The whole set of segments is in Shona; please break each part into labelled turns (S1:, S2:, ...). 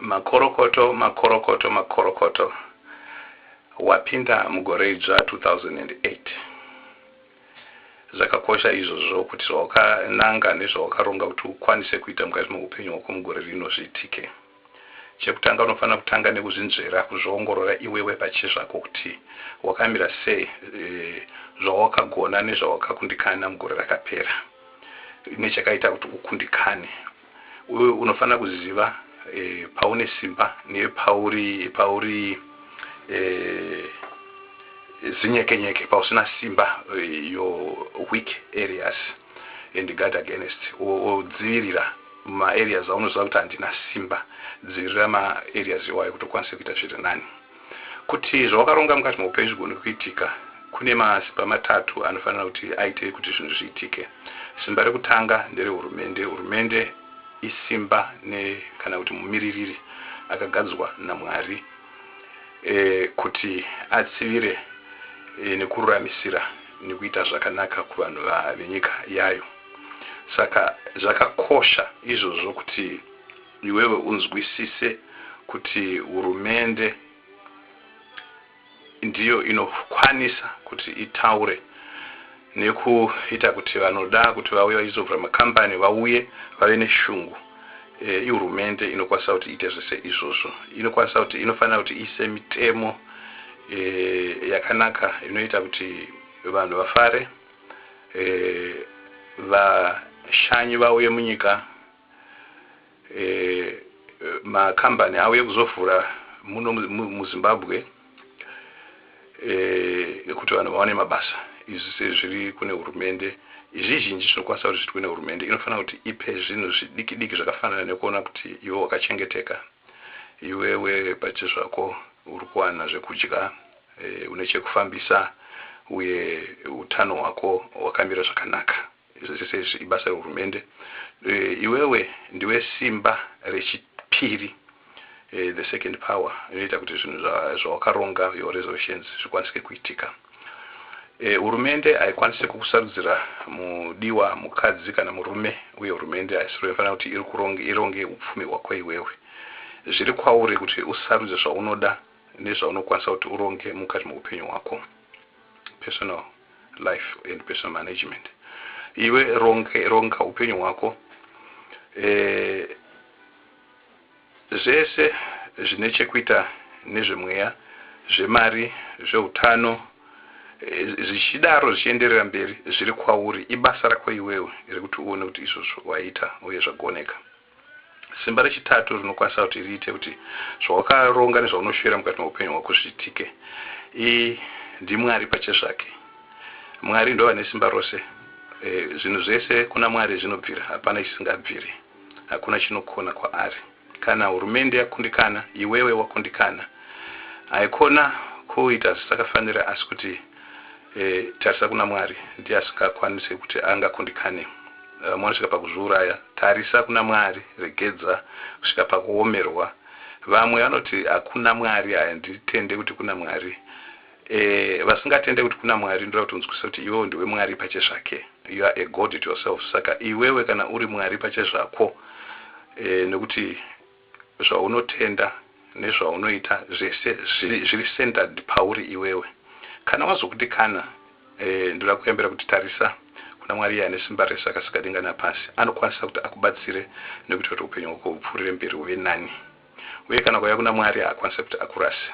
S1: Makorokoto makorokoto makorokoto wapinda mugore idzva 2008 zvakakosha izvozvo kuti zvawakananga nezvawakaronga kuti ukwanise kuita mukati meupenyu hwako mugore rino zviitike chekutanga unofanira kutanga nekuzvinzvera kuzviongorora iwewe pachezvako kuti wakamira sei e, zvawakagona nezvawakakundikana mugore rakapera nechakaita kuti ukundikane Uye unofanira kuziva e, paune simba nepauri pauri e, zinyekenyeke pausina simba e, your weak areas and guard against odzivirira maareas aunoziva kuti handina simba dzivirira maareas iwayo kuti ukwanise kuita zviri nani Kuti zvawakaronga mukati meupenyu zvigone kuitika, kune masimba matatu anofanira kuti aite kuti zvinhu zviitike. Simba rekutanga nderehurumende. Hurumende isimba ne kana kuti mumiririri akagadzwa naMwari e, kuti atsivire e, nekururamisira nekuita zvakanaka kuvanhu venyika yayo. Saka zvakakosha izvozvo kuti Iwewe unzwisise kuti hurumende ndiyo inokwanisa kuti itaure nekuita kuti vanoda kuti vauye vachizovhura makambani vauye vave neshungu e, ihurumende inokwanisa kuti iite zvese izvozvo inokwanisa kuti inofanira kuti iise mitemo e, yakanaka inoita kuti vanhu vafare e, vashanyi vauye munyika ma company avo ekuzovhura muno muzimbabwe ekuti vanhu vawane mabasa izvi sezviri kune hurumende zvizhinji zvinokwanisa kuti zvitwe nehurumende inofanira kuti ipe zvinhu zvidiki diki zvakafanana nekuona kuti iwe wakachengeteka iwewe pachezvako uri kuwana zvekudya e, une chekufambisa uye utano hwako hwakamira zvakanaka Izvi zvese izvi ibasa rehurumende. Iwewe ndiwe simba rechipiri, the second power, inoita kuti zvinhu zvawakaronga, your resolutions, zvikwanisike kuitika. Hurumende haikwanise kukusarudzira mudiwa, mukadzi kana murume, uye hurumende haisiro inofanira kuti irikuronge, ironge upfumi hwako iwewe. Zviri kwauri kuti usarudze zvaunoda nezvaunokwanisa kuti uronge mukati meupenyu hwako. personal life and personal management iwe ronge ronga upenyu hwako eh, zvese zvine chekuita nezvemweya zvemari zveutano eh, zvichidaro zvichienderera mberi zviri kwauri ibasa rako iwewe rekuti uone kuti izvozvo waita uye zvagoneka Simba rechitatu rinokwanisa kuti riite kuti zvawakaronga nezvaunoshuvira mukati meupenyu hwako zviitike i ndiMwari pachezvake. Mwari ndovane simba rose. E, zvinhu zvese kuna Mwari zvinobvira, hapana chisingabviri. Hakuna chinokona kwaari. Kana hurumende yakundikana, iwewe wakundikana. Haikona kuita zvisakafanira asi kuti. Eh tarisa kuna Mwari ndiye asingakwanise kuti angakundikane vamwe vanosvika pakuzviuraya tarisa kuna Mwari regedza kusvika pakuomerwa vamwe vanoti hakuna Mwari handitende kuti kuna Mwari eh vasingatende kuti kuna Mwari ndoda kuti unzwisise kuti iwewe ndiwe Mwari pachezvake you are a God to yourself saka iwewe kana uri Mwari pachezvako eh nekuti Zvaunotenda nezvaunoita zvese zviri centered pauri iwewe. Kana wazokuti kana eh ndoda kuyambira kuti tarisa kuna Mwari iye ane simba rese akasika denga napasi. Anokwanisa kuti akubatsire nekuita kuti upenyu hwako hupfuurire mberi huve nani. Uye kana ukauya kuna Mwari haakwanise kuti akurase.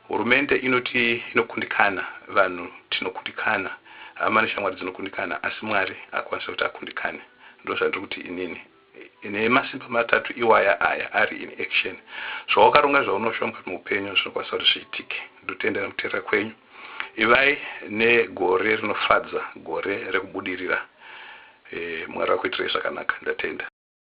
S1: Hurumende inoti inokundikana, vanhu tinokundikana, hama neshamwari dzinokundikana asi Mwari haakwanise kuti akundikane. Ndozvandiri kuti inini. Nhee masimba matatu iwaya aya ari in action. Zvawakaronga zvaunoshomga muupenyu zvinokwanisa kuti zviitike. Ndotendera kuteerera kwenyu. Ivai negore rinofadza gore rekubudirira. Mwari vakuitirai zvakanaka. Ndatenda.